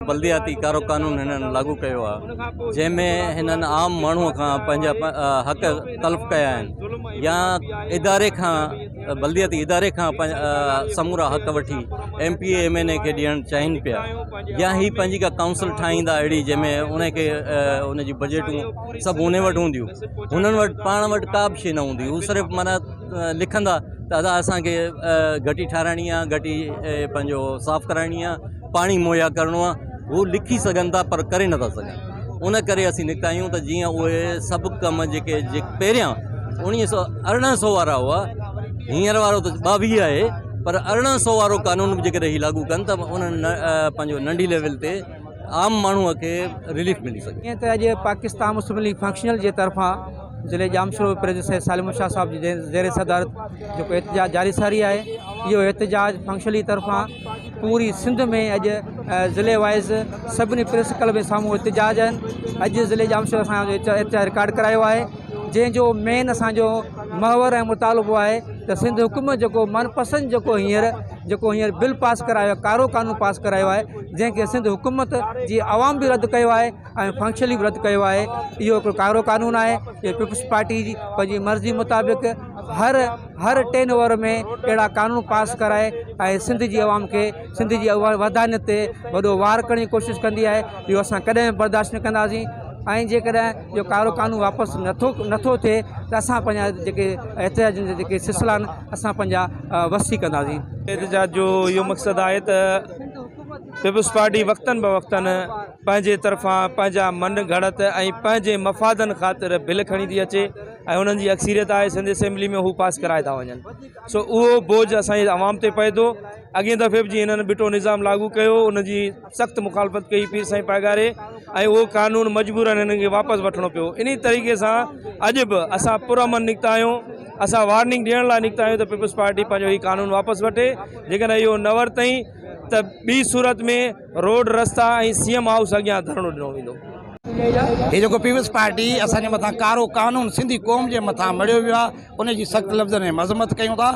بلدياتي ڪارو قانون هنن لاڳو ڪيو آ جنهن ۾ هنن عام ماڻهو کان پنهنجا حق تلف ڪيا آهن يا اداري کان بلدياتي اداري کان سمورا حق وٺي M P A M N A کي ڏيڻ چاهين پيا يا هي پنهنجي ڪا ڪائونسل ٺاهيندا اهڙي جنهن ۾ ان کي ان جي بجيٽون سڀ ان وٽ هونديون هنن وٽ پاڻ وٽ ڪا به شي نه هوندي هو صرف مانا لکندا ته ادا اسانکي گهٽي ٺاراهڻي آ گهٽي پنهنجو صاف ڪرائڻي آ پاڻي مهيا ڪرڻو آهي هو لکي سگهن ٿا پر ڪري نٿا سگهن ان ڪري اسين نڪتا آهيون ته جيئن اهي سڀ ڪم جيڪي پهريان اوڻيهه سو ارڙهن سو وارا هئا هينئر وارو ته ٻاويهه آهي پر ارڙهن سو وارو قانون به جيڪي رهي لاڳو ڪن ته انهن پنهنجو ننڍي ليول تي عام ماڻهو کي رليف ملي سگهي ائين ته اڄ پاڪستان مسلم ليگ فنڪشنل جي طرفان ضلع ڄامشورو پريز سيد سالم شاهه صاحب جي زير صدارت جيڪو احتجاج جاري ساري آهي اهو احتجاج فنڪشنل جي طرفان پوري سنڌ ۾ اڄ ضلعي وائيز سڀني پريس ڪلب جي سامهون احتجاج آهن اڄ ضلعي ڄامشوري اسان جو احتجاج رڪارڊ ڪرايو آهي جنهن جو مين اسانجو محور ۽ مطالبو آهي ته سنڌ حڪومت جيڪو من پسند جيڪو هينئر جيڪو هينئر بل پاس ڪرايو آهي ڪارو قانون پاس ڪرايو آهي جنهن کي سنڌ حڪومت جي عوام به رد ڪيو آهي ۽ فنڪشلي به رد ڪيو آهي اهو ڪارو قانون آهي پيپلز پارٽي جي پنهنجي مرضي مطابق هر هر ٽين اوور ۾ اهڙا قانون پاس ڪرائي ۽ سنڌ جي عوام کي سنڌ جي ودانيت تي وڏو وار ڪرڻ جي ڪوشش ڪندي آهي اهو اسان ڪڏهن به برداشت نه ڪنداسين ۽ جيڪڏهن اهو ڪارو قانون واپس نٿو نٿو ٿئي ته اسان پنهنجا جيڪي احتجاجن جا جيڪي سلسلا آهن اسان پنهنجا وسيع ڪنداسين احتجاج جو اهو مقصد آهي ته پيپلز پارٽي وقتن بوقتن پنهنجي طرفان پنهنجا من گهڙت ۽ پنهنجي مفادن خاطر بل کڻي ٿي اچي ۽ انهن جي اڪثريت آهي سنڌ اسيمبلي ۾ هو پاس ڪرائي ٿا وڃن سو اهو بوجھ اسان جي عوام تي پئي ٿو اڳين دفعي به جيئن هنن ٻٽو نظام لاڳو ڪيو ان جي سخت مخالفت ڪئي پير سائين پاڳاري ۽ اهو قانون مجبورن هنن کي واپس وٺڻو پيو ان طريقي سان اڄ به اسان پرامن نڪتا آهيون اسان وارننگ ڏيڻ لاء نڪتا آهيون ته پيپلز پارٽي پنهنجو هي قانون واپس وٺي جيڪڏهن اهو نه ورتئين ته ٻي صورت ۾ روڊ رستا ۽ سي ايم هائوس اڳيان ڌرڻو ڏنو ويندو. هي جيڪو پيپلز پارٽي اسان جي مٿان ڪارو قانون سنڌي قوم جي مٿان مڙهيو ويو آهي ان جي سخت لفظن ۾ مذمت ڪيون ٿا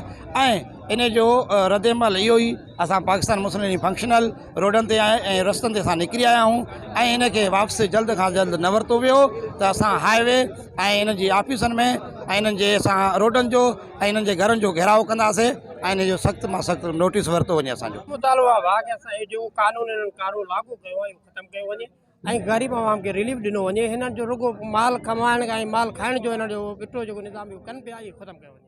۽ ان جو رد عمل اهو ئي اسان پاڪستان مسلم ليگ فنڪشنل روڊن تي آهي ۽ رستن تي اسان نڪري آيا آهيون ۽ ان کي واپس جلد کان جلد نه ورتو ويو ته اسان هاء وي ۽ انهن جي آفيسن ۾ ۽ انهن جي اسان روڊن جو ۽ انهن جي گهرن جو گهيراء ڪنداسين ۽ انهن جو سخت مان سخت نوٽيس ورتو وڃي اسان جو مطالبو اهو آهي ته اسان جو جيڪو قانون هنن ڪارو لاڳو ڪيو آهي اهو ختم ڪيو وڃي ۽ غريب عوام کي رليف ڏنو وڃي هنن جو رڳو مال ڪمائڻ ۽ مال کائڻ جو هنن جو ٻٽو جيڪو نظام اهو ڪن پيا اهو ختم ڪيو وڃي.